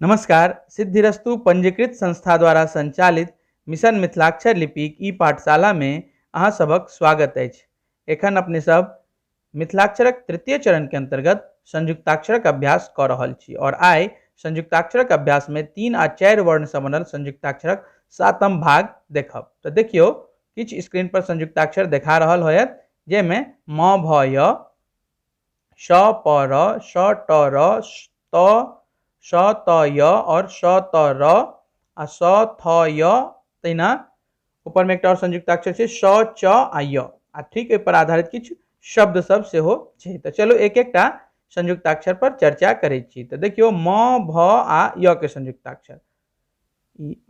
नमस्कार सिद्धिरस्तु पंजीकृत संस्था द्वारा संचालित मिशन मिथिलाक्षर लिपिक ई पाठशाला में अहाँ सभक स्वागत अछि एखन अपने सब मिथिलाक्षरक तृतीय चरण के अंतर्गत संयुक्ताक्षरक अभ्यास कऽ रहल छी और आइ संयुक्ताक्षरक अभ्यास में तीन आ चारि वर्ण से बनल संयुक्ताक्षरक सातम भाग देखब तऽ देखियौ किछु स्क्रीन पर संयुक्ताक्षर देखा रहल होयत जाहिमे म भ य श प र श ट र त श त य और श त र आ स थ य तहिना ऊपर में एक और संयुक्ताक्षर से श च आ य आ ठीक पर आधारित किछु शब्द सब से हो छे तो चलो एक एक टा संयुक्ताक्षर पर चर्चा करे छी तो देखियो म भ आ य के संयुक्ताक्षर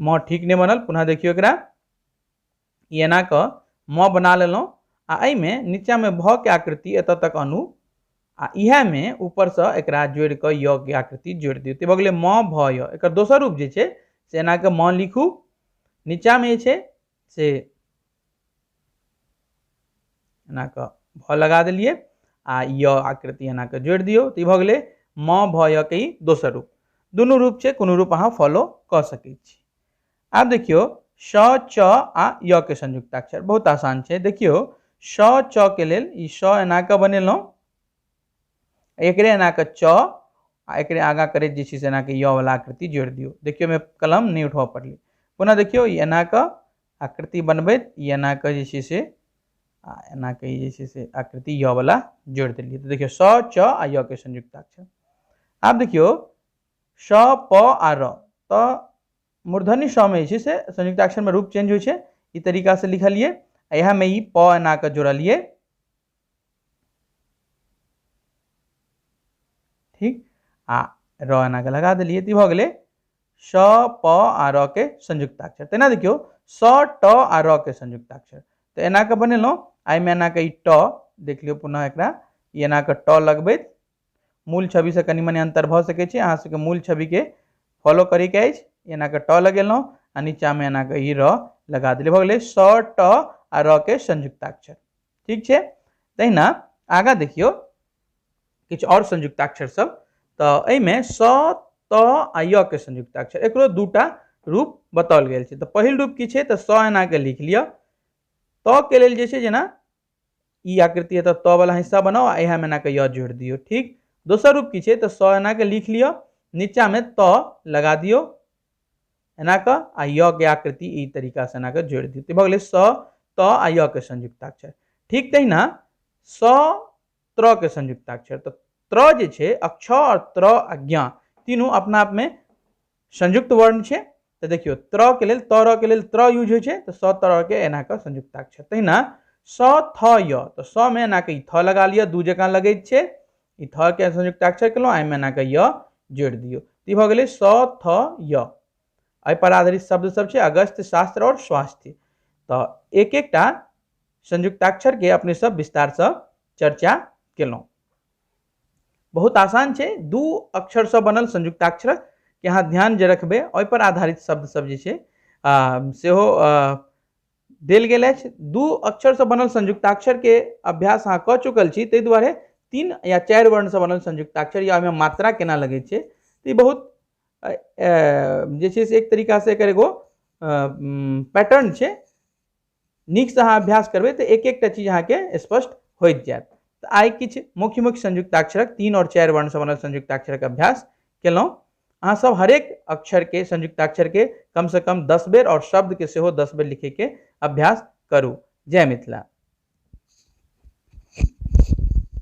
म ठीक नहीं बनल पुनः देखियो एकरा ई एना कऽ म बना लेलहुँ आ एहिमे नीचाँमे भ के आकृति एतऽ तक अनु आ इएहमे ऊपरसँ एकरा जोड़ि कऽ य के आकृति जोड़ि दियौ तऽ भऽ गेलै म भ य एकर दोसर रूप जे छै से एना कऽ म लिखू नीचाँमे जे छै से एना कऽ भ लगा देलियै आ य आकृति एना कऽ जोड़ि दियौ तऽ ई भऽ गेलै म भ य के ई दोसर रूप दुनू रूप छै कोनो रूप अहाँ फॉलो कऽ सकै छी आब देखियो श च आ य के संयुक्ताक्षर बहुत आसान छै देखियो श च के लेल ई श एना के बनेलहुँ एकरे एना के च आ एकरे आगा करे जे छै से एना के य वाला आकृति जोड़ दियो देखियो में कलम नहीं उठबऽ पड़लै पुनः देखियो ई एना के आकृति बनबैत ई एना के जे छै से आ एना के जे छै से आकृति य वाला जोड़ देलियै तो देखियो स च आ य के संयुक्ताक्षर आब देखियो श प आ र त मूर्धन्य शमे जे छै से संयुक्ताक्षरमे रूप चेंज होइ छै ई तरीकासँ लिखलियै आ इएहमे ई प एना कऽ जोड़लियै ठीक आ र एना कऽ लगा देलियै तऽ ई भऽ गेलै श प आ र के संयुक्ताक्षर तेना देखियौ स ट आ र के संयुक्ताक्षर तऽ एना कऽ बनेलहुँ आ एहिमे एना कऽ ई ट देख लियौ पुनः एकरा ई एना कऽ ट लगबैत मूल छवि से कनि मनि अंतर भऽ सकैत छै अहाँ सबके मूल छवि के फॉलो करे के अछि एना के ट लगेलहुँ आ नीचा में एना के ई र लगा देलियै भऽ गेलै स ट आ र के संयुक्ताक्षर ठीक छै तहिना आगाँ देखियौ किछु आओर संयुक्ताक्षर सब तऽ एहिमे स त आ य के संयुक्ताक्षर एकरो दूटा रूप बताओल गेल छै तऽ पहिल रूप की छै तऽ स एना के लिख लिअ त के लेल जे छै जेना ई आकृति एतऽ त वाला हिस्सा बनाउ आ इएह में एनाके य जोड़ि दियौ ठीक दोसर रूप की छै तऽ स एनाके लिख लिअ नीचा में त लगा दियौ एनाके आ य के आकृति ई तरीका से एनाके जोड़ि दियौ तऽ भऽ गेलै स त आ य के संयुक्ताक्षर ठीक तहिना स त्र के संयुक्ताक्षर तऽ त्र जे छै अक्ष और त्र आ ज्ञा तीनू अपना आप में संयुक्त वर्ण छै तऽ देखियौ त्र के लेल तर के लेल त्र यूज होइ छै तऽ स तर के एना कऽ संयुक्ताक्षर तहिना स थ य तऽ स मे एना कऽ ई थ लगा लिअ दू जकाँ लगै छै ई थ के संयुक्ताक्षर केलहुँ एहिमे एना कऽ य जोड़ि दियौ ई भऽ गेलै स थ य एहिपर आधारित शब्द सब छै अगस्त शास्त्र आओर स्वास्थ्य तऽ एक एकटा संयुक्ताक्षरके अपने सब विस्तारसँ चर्चा केलहुँ बहुत आसान छै दू अक्षरसँ बनल संयुक्ताक्षर के अहाँ ध्यान जे रखबै ओहिपर आधारित शब्द सब जे छै सेहो देल गेल अछि दू अक्षरसँ बनल संयुक्ताक्षरके अभ्यास अहाँ कऽ चुकल छी ताहि दुआरे तीन या चारि वर्णसँ बनल संयुक्ताक्षर या ओहिमे मात्रा केना लगै छै तऽ ई बहुत जे छै से एक तरीकासँ एकर एगो पैटर्न छै नीकसँ अहाँ अभ्यास करबै तऽ एक एकटा चीज अहाँके स्पष्ट होइत जायत तऽ आइ किछु मुख्य मुख्य संयुक्ताक्षरक तीन आओर चारि वर्णसँ बनल संयुक्ताक्षरक अभ्यास केलहुँ अहाँसभ हरेक अक्षरके संयुक्ताक्षरके कमसँ कम दस बेर आओर शब्दके सेहो दस बेर लिखैके अभ्यास करू जय मिथिला